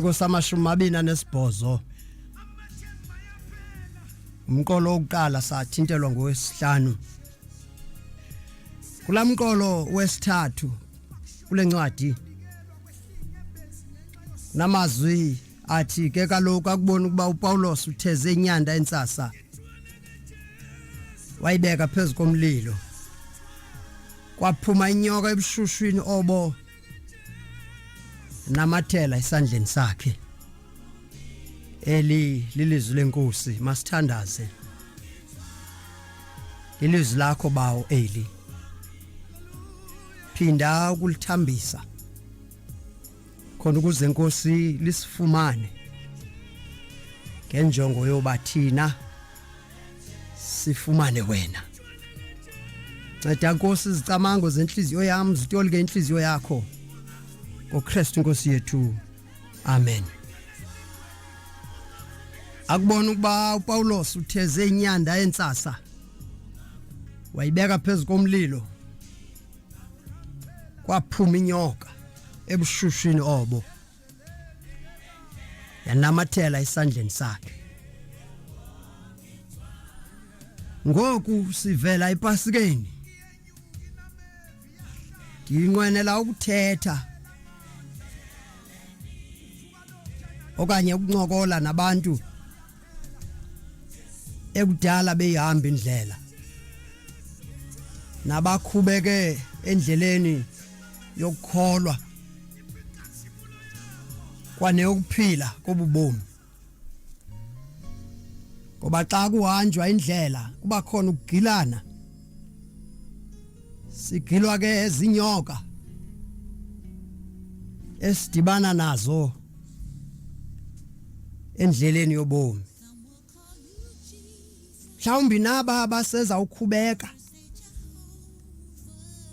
ngosamashumi amabini anesibhozo umqolo wokuqala sathintelwa ngowesihlanu kula mqolo wesithathu kule ncwadi namazwi athi ke kaloku akubona ukuba upawulos utheze inyanda entsasa wayibeka phezu komlilo kwaphuma inyoka ebushushwini obo namathela esandleni sakhe eli lilizwi lenkosi masithandaze ilizwi lakho bawo eli phinda ukulithambisa khona ukuze inkosi lisifumane ngenjongo yoba thina sifumane wena nceda nkosi izicamango zentliziyo yam zitolike intliziyo yakho ngokristu nkosi yethu amen akubona ukuba upawulos utheze inyanda entsasa wayibeka phezu komlilo kwaphuma inyoka ebushushini obo yanamathela esandleni sakhe ngoku sivela epasikeni ndinqwenela ukuthetha okanye ukuncokola nabantu ekudala beyihamba indlela nabakhubeke endleleni yokukholwa kwaneyokuphila kobubomi ngoba xa kuhanjwa indlela kuba khona ukugilana sigilwa ke zinyoka esidibana nazo endleleni yobomi mhlawumbi naba baseza ukhubeka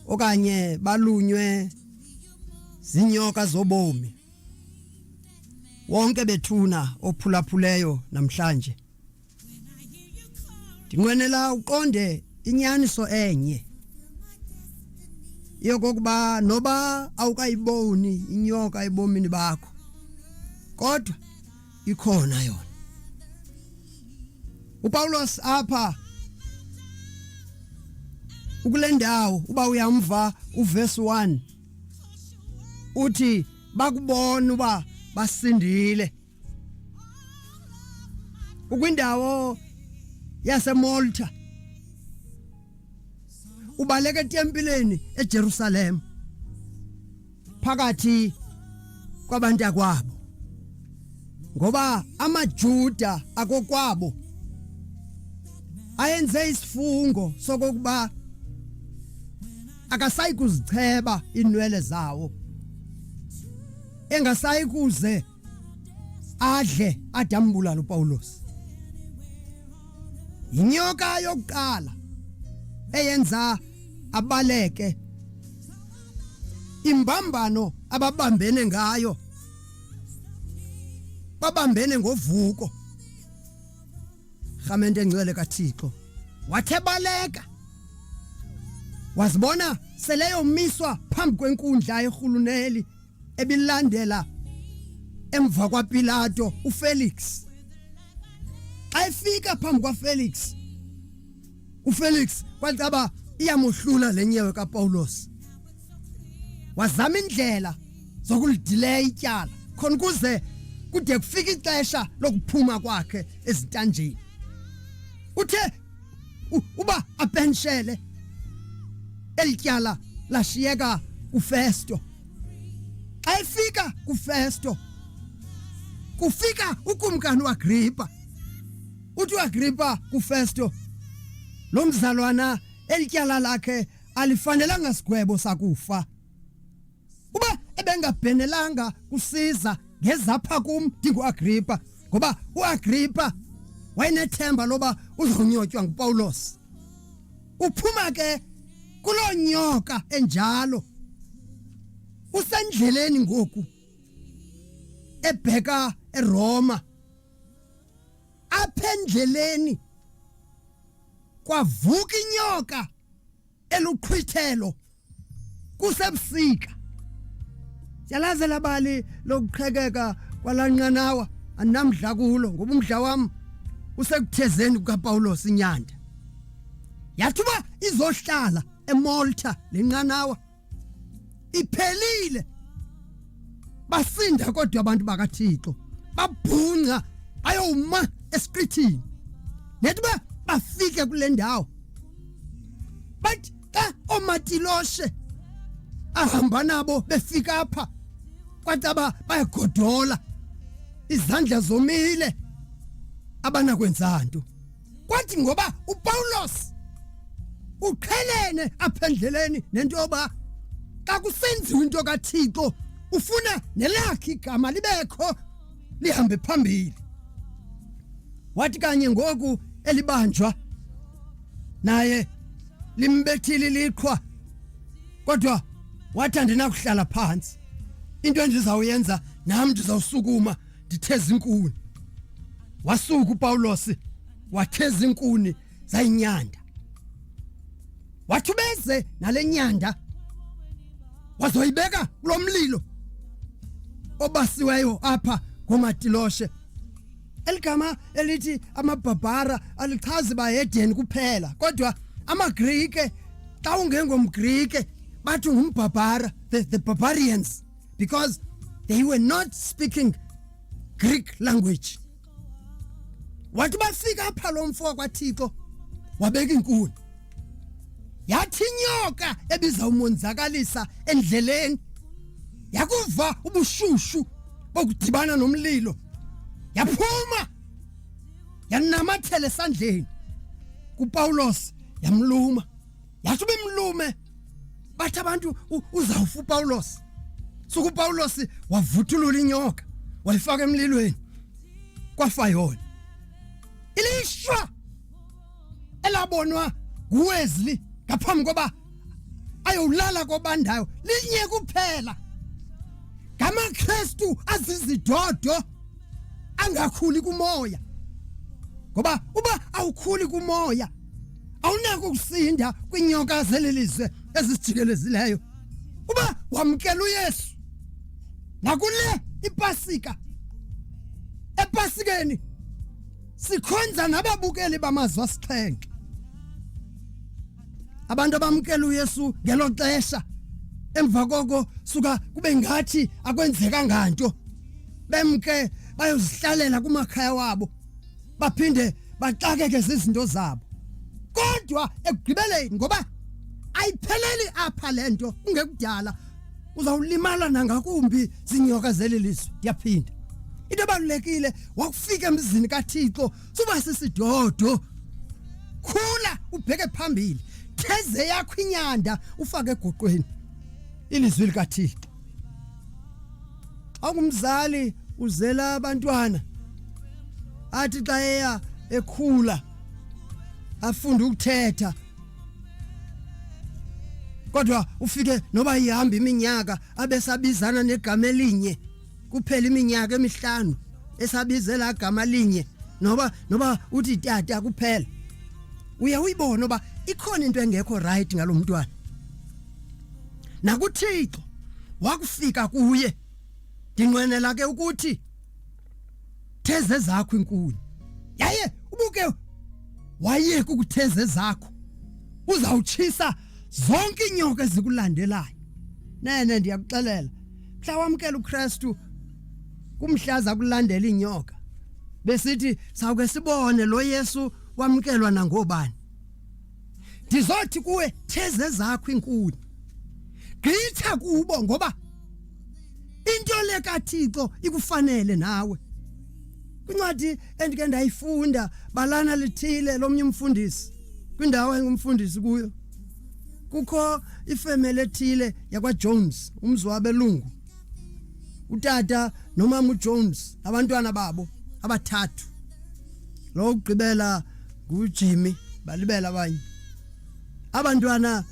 okanye balunywe zinyoka zobomi wonke bethuna ophulaphuleyo namhlanje ndinqwenela uqonde inyaniso enye yokokuba noba awukayiboni inyoka ebomini bakho kodwa ikhona yona uPaulos apha ukule ndawo uba uyamva uverse 1 uthi bakubona uba basindile ukwindawo yaseMolta ubaleka etempileni eJerusalem phakathi kwabantu akwabo ngoba amaJuda akokwabo ayenze isifungo sokuba akasayi kuzicheba inwele zawo engasayi kuze adle ade ambulala uPawulos yinyoka yokuqala eyenza abaleke imbambano ababambene ngayo babambene ngovuko rhamente engcwele kathixo wathe baleka wazibona seleyomiswa phambi kwenkundla yerhuluneli ebilandela emva kwaPilato uFelix xa efika phambi kwaFelix uFelix kwacaba iyamohlula lenyewe kaPaulos wazama indlela zokulidileya ityala khona kuze kude kufika ixesha lokuphuma kwakhe ezintanjeni uthe U, uba apenshele elityala lashiyeka kufesto xa efika kufesto kufika ukumkani uagripa uthi uagripa kufesto lo mzalwana elityala lakhe alifanelanga sigwebo sakufa uba ebengabhenelanga kusiza ngezapha kum ndinguagripa ngoba uagripa wayenethemba loba uzonyotywa ngupawulos uphuma ke kuloo nyoka enjalo usendleleni ngoku ebheka eroma apha endleleni kwavuka inyoka eluqhwithelo kusebusika yalaze labali lokuqhekeka kwalanqanawa andinamdla kulo ngoba umdla wam usekuthezeni kukapawulos inyanda yathi uba izohlala emalta le nqanawa iphelile basinda kodwa abantu bakaThixo babhunca bayoma esiqithini nethi ba bafike kule ndawo bathi xa omatiloshe ahamba nabo befika apha kwacaba bayagodola izandla zomile abanakwenza nto kwathi ngoba uPawulos uqhelene apha endleleni nento yoba xa kusenziwa into kaThixo ufuna nelakhe igama libekho lihambe phambili wathi kanye ngoku elibanjwa naye limbethile liqhwa kodwa wathi andinakuhlala phansi into endizawuyenza nam ndizawusukuma nditheza inkuni wasuka upawulos watheza inkuni zayinyanda wathi ubeze nale nyanda wazoyibeka kulo mlilo obasiweyo apha ngomatiloshe eligama elithi amabhabhara alichazi bahedeni kuphela kodwa amagrike xa ungengomgrike bathi ngumbhabhara the, the barbarians because they were not speaking Greek language. Wathi bafika apha lo mfo wakwaThixo wabeka inkuni. Yathi inyoka ebiza umonzakalisa endleleni yakuva ubushushu bokudibana nomlilo yaphuma yanamathela esandleni kuPawulos yamluma wathi ube mlume bathi abantu uzawufa upawulos suke upawulos wavuthulula inyoka wayifaka emlilweni kwafa yona ilishwa elabonwa nguwesley ngaphambi koba ayowulala kobandayo linye kuphela ngamakristu azizidodo angakhuli kumoya ngoba uba awukhuli kumoya awunako ukusinda kwiinyoka zeli lizwe ezisijikelezileyo uba wamkela uyesu nakule ipasika epasikeni sikhonza nababukeli bamazwi asixhenxe abantu abamkela uyesu ngelo xesha emva koko suka kube ngathi akwenzeka nganto bemke bayozihlalela kumakhaya wabo baphinde baxakeke zizinto zabo kodwa ekugqibeleni ngoba ayipheleli apha le nto kungekudala uzawulimala nangakumbi zinyoka zeli lizwe ndiyaphinda into ebalulekile wakufika emzini kathixo suba sisidodo khula ubheke phambili theze yakho inyanda ufake egoqweni ilizwi likathixo awungumzali uzela abantwana athi xa eya ekhula afunde ukuthetha kodwa ufike noba ihamba iminyaka abesabizana negama elinye kuphela iminyaka emihlanu esabizela igama linye noba noba uthi tata kuphela uye uyibone uba ikhona into engekho right ngalomntwana nakuthixo wakufika kuye ndinqwenela ke ukuthi theze zakho inkuni yaye ubuke wayeka ukutheze zakho uzawutshisa zonke inyoka ezikulandelayo nene ndiyakuxelela mhla wamkela uKristu kumhlaza kulandela inyoka besithi sawuke sibone lo Yesu wamkelwa nangobani ndizothi kuwe theze zakho inkuni gqitha kubo ngoba into le kaThixo ikufanele nawe kwincwadi endike ndayifunda balana lithile lomnye umfundisi kwindawo engumfundisi kuyo kukho ifemeli ethile yakwaJones umzi wabelungu utata nomama uJones abantwana babo abathathu lo kugqibela nguJimmy balibela abanye abantwana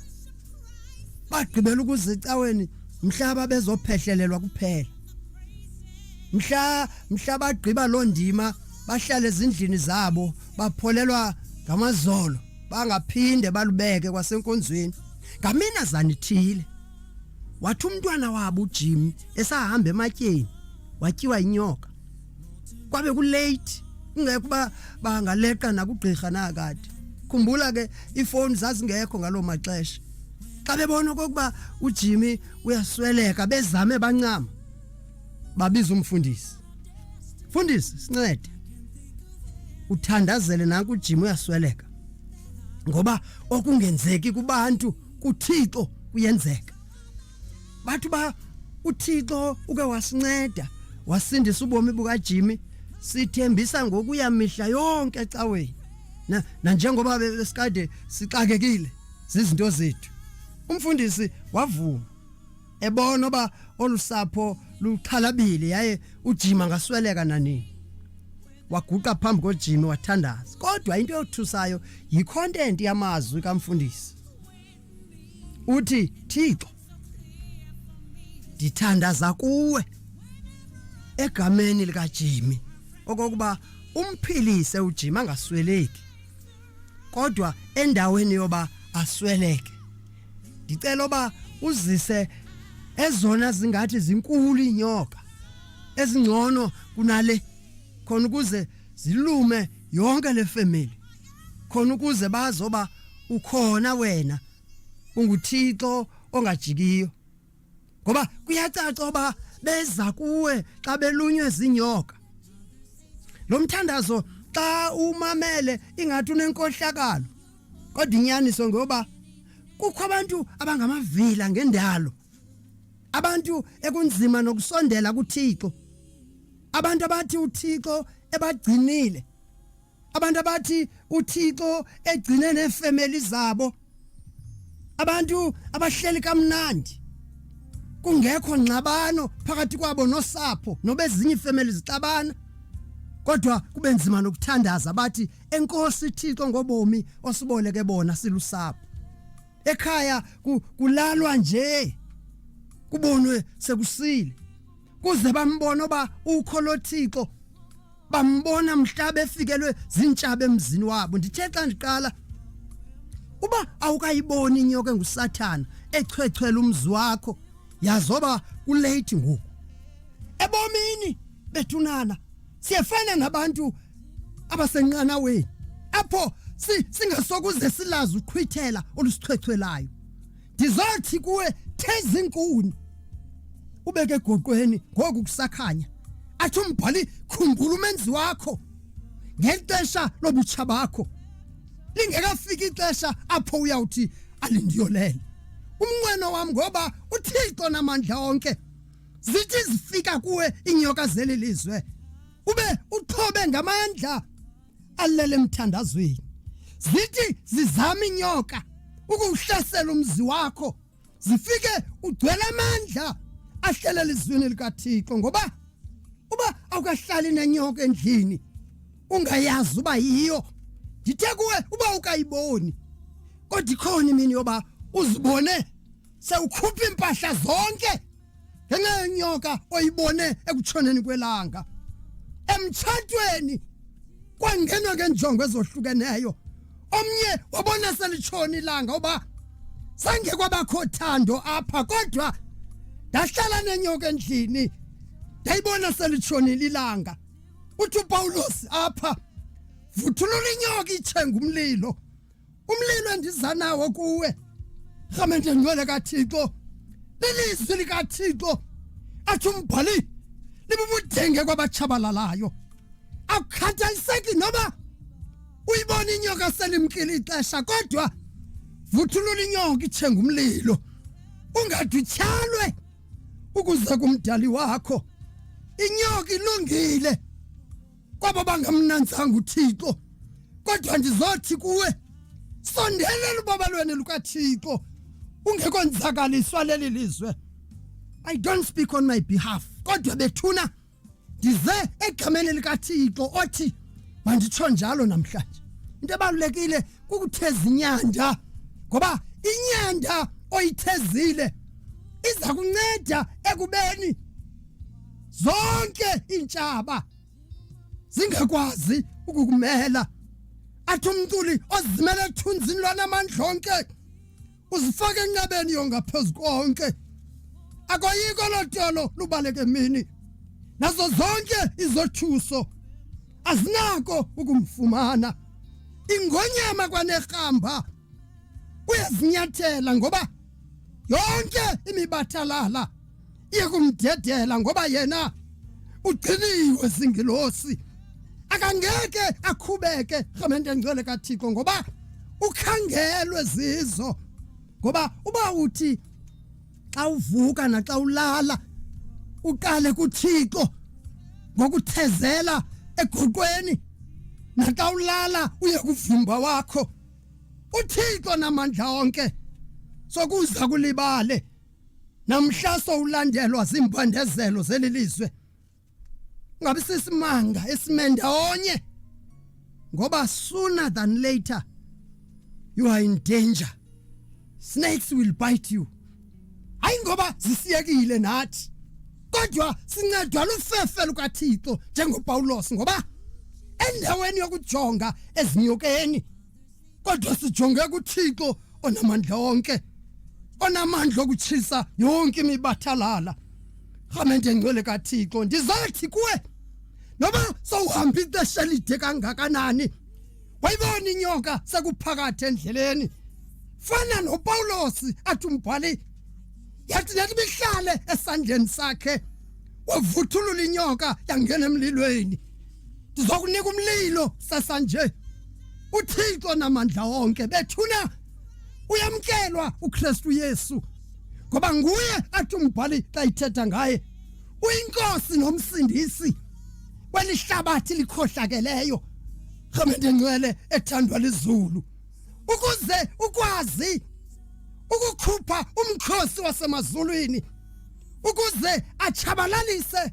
bagqibela ukuzicaweni mhlaba bezophehlelelwa kuphela mhla mhla bagqiba loo ndima bahlale ezindlini zabo bapholelwa ngamazolo bangaphinde balubeke kwasenkonzweni ngaminazana ithile wathi umntwana wabo uJimmy esahamba ematyeni watyiwa inyoka kwabe kulate kungekho uba bangaleqa nakugqirha nakade khumbula ke iifowuni zazingekho ngaloo maxesha xa bebona okokuba ujimmy uyasweleka bezame bancama babiza umfundisi mfundisi sincede uthandazele nanku ujimmy uyasweleka ngoba okungenzeki kubantu kuthixo kuyenzeka bathi uba uthixo uke wasinceda wasindisa ubomi bukajimi sithembisa ngokuya mihla yonke ecaweni na nanjengoba besikade sixakekile zizinto zethu umfundisi wavuma ebona oba olusapho luxhalabile yaye ujima ngasweleka nanini waguqa phambi kojimi wathandaza kodwa into eyothusayo yicontent yamazwi kamfundisi uthi thixo ndithandaza kuwe egameni likajimi okokuba umphilise ujima angasweleki kodwa endaweni yoba asweleke ndicela oba uzise ezona zingathi zinkulu inyoka ezingcono kunale khona ukuze zilume yonke le family khona ukuze bazoba ukhona wena unguthixo ongajikiyo ngoba kuyacaca oba beza kuwe xa belunywe zinyoka lo mthandazo xa umamele ingathi unenkohlakalo kodwa inyaniso ngoba kukho abantu abangamavila ngendalo abantu ekunzima nokusondela kuThixo abantu abathi uthixo ebagcinile abantu abathi uthixo egcine neefemeli zabo abantu abahleli kamnandi kungekho ngxabano phakathi kwabo nosapho nobezinye iifemeli zixabana kodwa kube nzima nokuthandaza bathi enkosi Thixo ngobomi osiboleke bona silusapho ekhaya kulalwa nje kubonwe sekusile kuze bambone uba ukho lothixo bambona mhla befikelwe zintshaba emzini wabo ndithe xa ndiqala uba awukayiboni inyoka engusathana echwechwela umzi wakho yazoba kulate ngoku ebomini bethunana siyefana nabantu abasenqanaweni apho singasokuze silazi uqhwithela olusichwechwelayo ndizothi kuwe thezi inkuni ubeke egoqweni ngoku kusakhanya athi umbhali khumbula umenzi wakho ngexesha lobutsha bakho lingekafiki ixesha apho uyawuthi alindiyolele umnqweno wam ngoba uthixo namandla onke zithi zifika kuwe inyoka zeli lizwe ube uxhobe ngamandla alele emthandazweni zithi zizama inyoka ukuwuhlasela umzi wakho zifike ugcwele amandla ahlelela izwini likathixo ngoba uba awukahlali nenyoka endlini ungayazi uba yiyo ndithe kuwe uba ukayiboni kodwa ikhona imini yoba uzibone sewukhupha iimpahla zonke ngenxa yenyoka oyibone ekutshoneni kwelanga emtshatweni kwangenwa ngenjongo ezohlukeneyo omnye wabona selitshoni ilanga uba sange kwabakho thando apha kodwa ndahlala nenyoka endlini ndayibona selitshonile ilanga uthi upawulos apha vuthulula inyoka itshenga umlilo umlilo endiza nawo kuwe rhamente ngcwele kathixo lilizwi likathixo athi umbhali libubudenge kwabatshabalalayo akukhathaliseki noba uyibona inyoka selimkile ixesha kodwa vuthulula inyoka ithenga umlilo ungadutyhalwe ukuze kumdali wakho inyoka ilungile kwabo bangamnanzanga uthixo kodwa ndizothi kuwe sondelela ubabalweni lukathixo ungekonzakaliswa leli lizwe i don't speak on my behalf kodwa bethuna ndize egameni likathixo othi manditsho njalo namhlanje into ebalulekile kukutheza inyanda ngoba inyanda oyithezile iza kunceda ekubeni zonke iintshaba zingakwazi ukukumela athi umculi ozimele ethunzini lwanamandla onke uzifake enqabeni yongaphezu konke akoyiko lotolo lubaleke mini nazo zonke izothuso azinako ukumfumana ingonyama kwanerhamba uyazinyathela ngoba yonke imibathalala iye kumdedela ngoba yena ugciniwe singilosi akangeke akhubeke rhamente ngcwele kathixo ngoba ukhangelwe zizo ngoba uba uthi xa uvuka naxa ulala uqale kuthixo ngokuthezela egoqweni naxa ulala uye kuvimba wakho uthixo namandla onke sokuza kulibale namhla sowulandelwa ziimpandezelo zeli lizwe ngabe sisimanga esimenda onye ngoba sooner than later you are in danger snakes will bite you hayi ngoba zisiyekile nathi kodwa sincedwa lufefe lukathixo njengopawulos ngoba endaweni yokujonga ezinyokeni kodwa sijonge kuthixo onamandla onke onamandla okutshisa yonke imibathalala rhamente ngcwele kathixo ndizathi kuwe noba sowuhamba ixesha elide kangakanani wayibona inyoka sekuphakathi endleleni fana nopawulosi athi umbhali yathi nathi bihlale esandleni sakhe wavuthulula inyoka yangena emlilweni ndizokunika umlilo sasanje uthixo namandla onke bethuna uyamkelwa ukristu yesu ngoba nguye athi umbhali xa ithetha ngaye uyinkosi nomsindisi kwelihlabathi likhohlakeleyo rhamente ngcwele ethandwa lizulu ukuze ukwazi ukukhupha umkhosi wasemazulwini ukuze achabalalise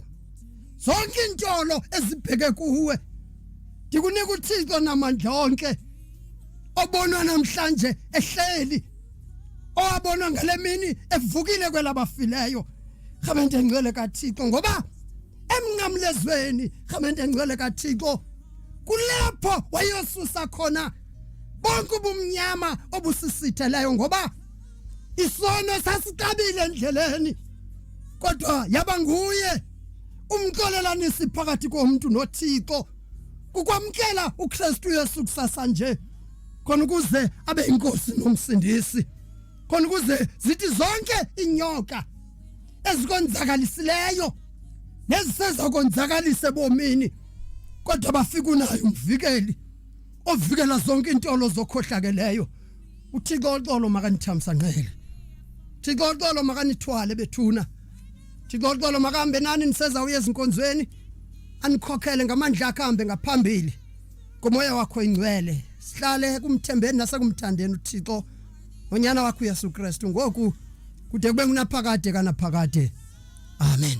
zonke intolo ezibheke kuwe ndikunika uthixo namandla onke obonwa namhlanje ehleli owabonwa ngale mini evukile kwelabafileyo rhamente ngcwele kathixo ngoba emnqamlezweni rhamente ngcwele kathixo kulapho wayosusa khona bonke ubumnyama obusisitheleyo ngoba isono sasitabile endleleni kodwa yaba nguye umxolelanisi phakathi komntu noThixo kukwamkela uKristu Yesu kusasa nje khona ukuze abe inkosi nomsindisi khona ukuze zithi zonke inyoka ezikonzakalisileyo nezisezakonzakalise bomini kodwa bafika unayo umvikeli ovikela zonke intolo zokhohlakeleyo uthixo oxolo makanithamsa nqele thixo oxolo makanithwale bethuna thixo oxolo makahambe nani niseza uye ezinkonzweni anikhokhele ngamandla akhe ahambe ngaphambili ngomoya wakho ingcwele sihlale kumthembeni nasekumthandeni uthixo onyana wakho uyesu kristu ngoku kude kube ngunaphakade kanaphakade amen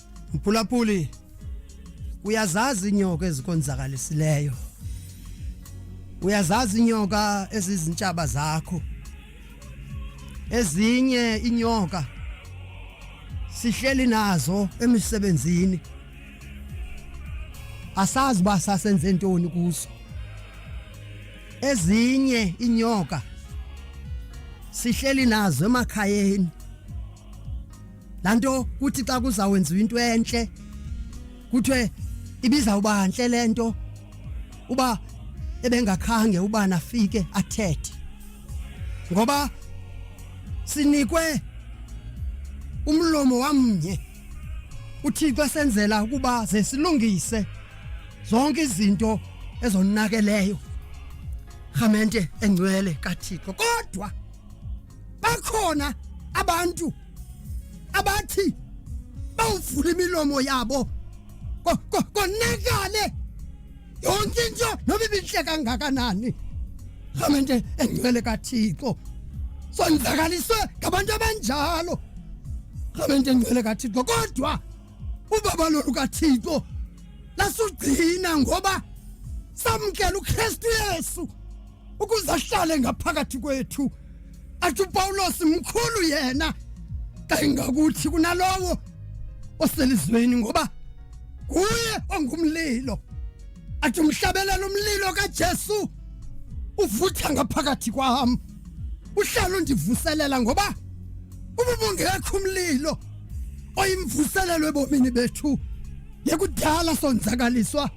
Mphulaphuli uyazazi inyoka ezikonzakalisileyo. Uyazazi inyoka ezizintshaba zakho. Ezinye inyoka sihleli nazo emisebenzini. Asazi ba sasenze ntoni kuzo. Ezinye inyoka sihleli nazo emakhayeni. laa nto kuthi xa kuzawwenziwa into entle kuthiwe ibizawuba ntle le nto uba ebengakhange ubani afike athethe ngoba sinikwe umlomo wamnye uthixo esenzela ukuba ze silungise zonke izinto ezonakeleyo rhamente engcwele kathixo kodwa bakhona abantu abathi bawuvula imilomo yabo konakale yonke into noba ibintle kangakanani rhamente engcwele kathixo sonzakaliswe ngabantu abanjalo rhamente engcwele kathixo kodwa ubaba lolu kathixo lasugcina ngoba samkela ukristu yesu ukuze ahlale ngaphakathi kwethu athi upawulos mkhulu yena kangakuthi kunalowo oselizweni ngoba nguye ongumlilo athi umhlabelela umlilo kajesu uvutha ngaphakathi kwam uhlala undivuselela ngoba ububungekho umlilo oyimvuselelo ebomini bethu yekudala sonzakaliswa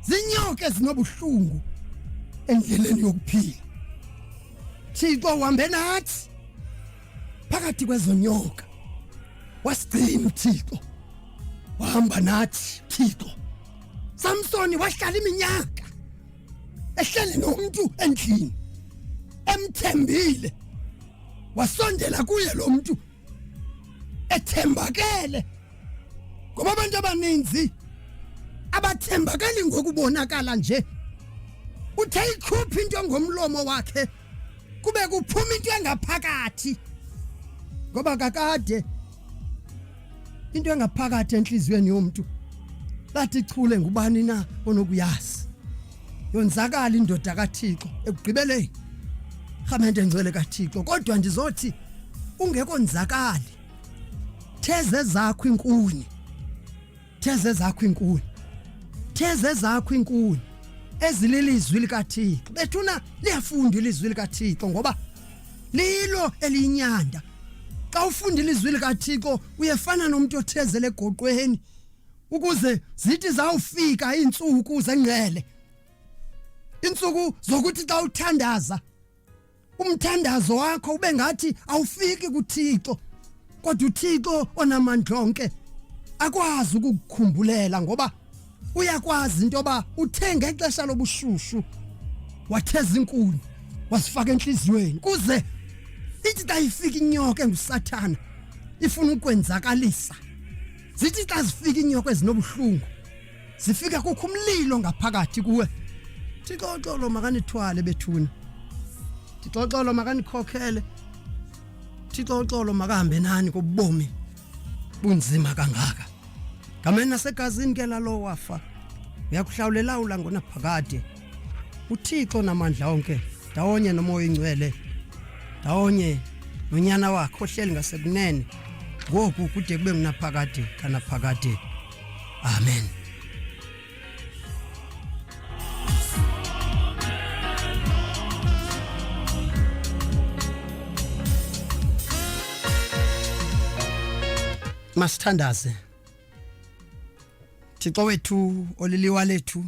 zinyoka ezinobuhlungu endleleni yokuphila thixo uhambe nathi phakathi kwezonyoka wasigcina uthixo wahamba nathi thixo samsoni wahlala iminyaka ehleli nomntu endlini emthembile wasondela kuye lo mntu ethembakele ngoba abantu abaninzi abathembakali ngokubonakala nje uthe ikhupha into ngomlomo wakhe kube kuphuma into engaphakathi ngoba kakade into engaphakathi enhliziyweni yomuntu lathi chule ngubani na onokuyazi yonzakala indoda kaThixo ekugqibeleni rhamente ngcwele kaThixo kodwa ndizothi ungekonzakali theze zakho inkuni theze zakho inkuni theze zakho inkuni ezililizwi likaThixo bethuna liyafunda ilizwi likaThixo ngoba lilo eliyinyanda xa ufunda ilizwi likaThixo uyefana nomuntu othezele egoqweni ukuze zithi zawufika iintsuku zengcele iintsuku zokuthi xa uthandaza umthandazo wakho ube ngathi awufiki kuThixo kodwa uThixo onamandla onke akwazi ukukukhumbhulela ngoba uyakwazi into yoba uthe ngexesha lobushushu watheza inkuni wasifaka enhliziyweni kuze ithi xa ifika inyoka engusathana ifuna ukwenzakalisa Zithi xa zifika iinyoka ezinobuhlungu zifika kukho umlilo ngaphakathi kuwe. Thixoxolo makanithwale bethuna. Thixoxolo makanikhokhele. Thixoxolo makahambe nani kobomi bunzima kangaka. Ngamena segazini ke lalo wafa. Uyakuhlawulela ulangonaphakade. uthixo namandla onke ndawonye nomoya oyingcwele ndawonye nonyana wakhe ohleli ngasekunene ngoku kude kube ngunaphakade kanaphakade amen masithandaze thixo wethu oliliwa lethu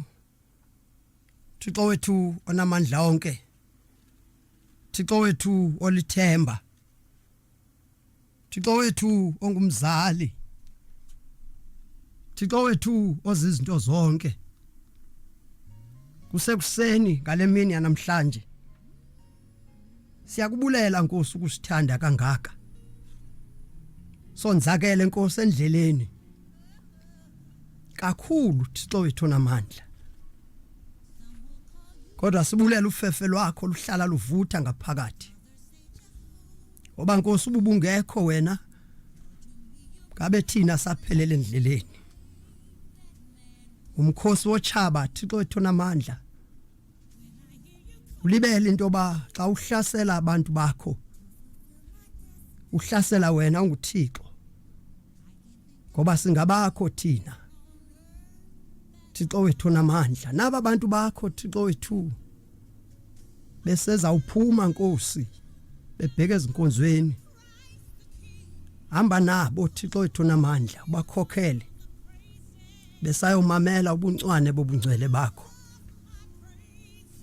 Thixo wethu onamandla onke Thixo wethu olithemba Thixo wethu ongumzali Thixo wethu ozizinto zonke kusekuseni ngalemini yanamhlanje Siyakubulela Nkosi ukusithanda kangaka. Sonzakele Nkosi endleleni. Kakhulu Thixo wethu namandla. Kodwa sibulela ufefe lwakho luhlala luvutha ngaphakathi. Oba Nkosi ububungekho wena ngabe thina saphelele endleleni. Umkhosi wochaba Thixo wethu namandla. ulibele into yoba xa uhlasela abantu bakho uhlasela wena unguthixo ngoba singabakho thina thixo wethu namandla naba bantu bakho thixo wethu beseza uphuma nkosi bebheke ezinkonzweni hamba nabo thixo wethu namandla ubakhokhele besayomamela ubuncwane bobungcwele bakho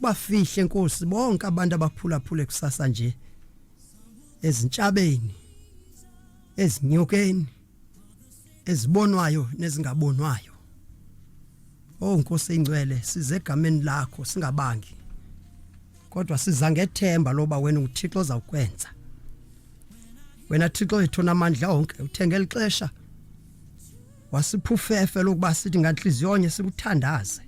bafihle nkosi bonke abantu abaphulaphule kusasa nje ezintshabeni ezinyokeni ezibonwayo nezingabonwayo Oh Nkosi ingcwele size egameni lakho singabangi kodwa siza ngethemba loba wena uThixo ozawukwenza wena Thixo wethu namandla onke uthenge lixesha wasiphufefe lokuba sithi nganhliziyo onye sikuthandaze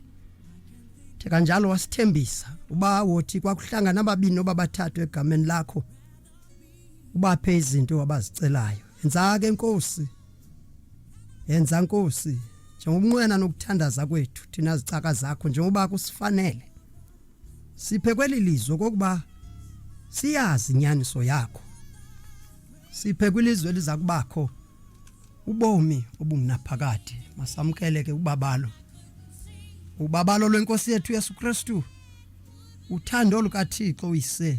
the kanjalo wasithembisa uba wothi kwakuhlangana ababini obabathathu egameni lakho ubaphe izinto abazicelayo yenza ke inkosi yenza inkosi njengobunqwena nokuthandaza kwethu thina zicaka zakho njengoba kusifanele siphe kweli lizwe kokuba siyazi inyaniso yakho siphe kwilizwe eliza kubakho ubomi obungunaphakade masamkele ke ubabalo ubabalo lwenkosi yethu Yesu Kristu uthando lukaThixo uyise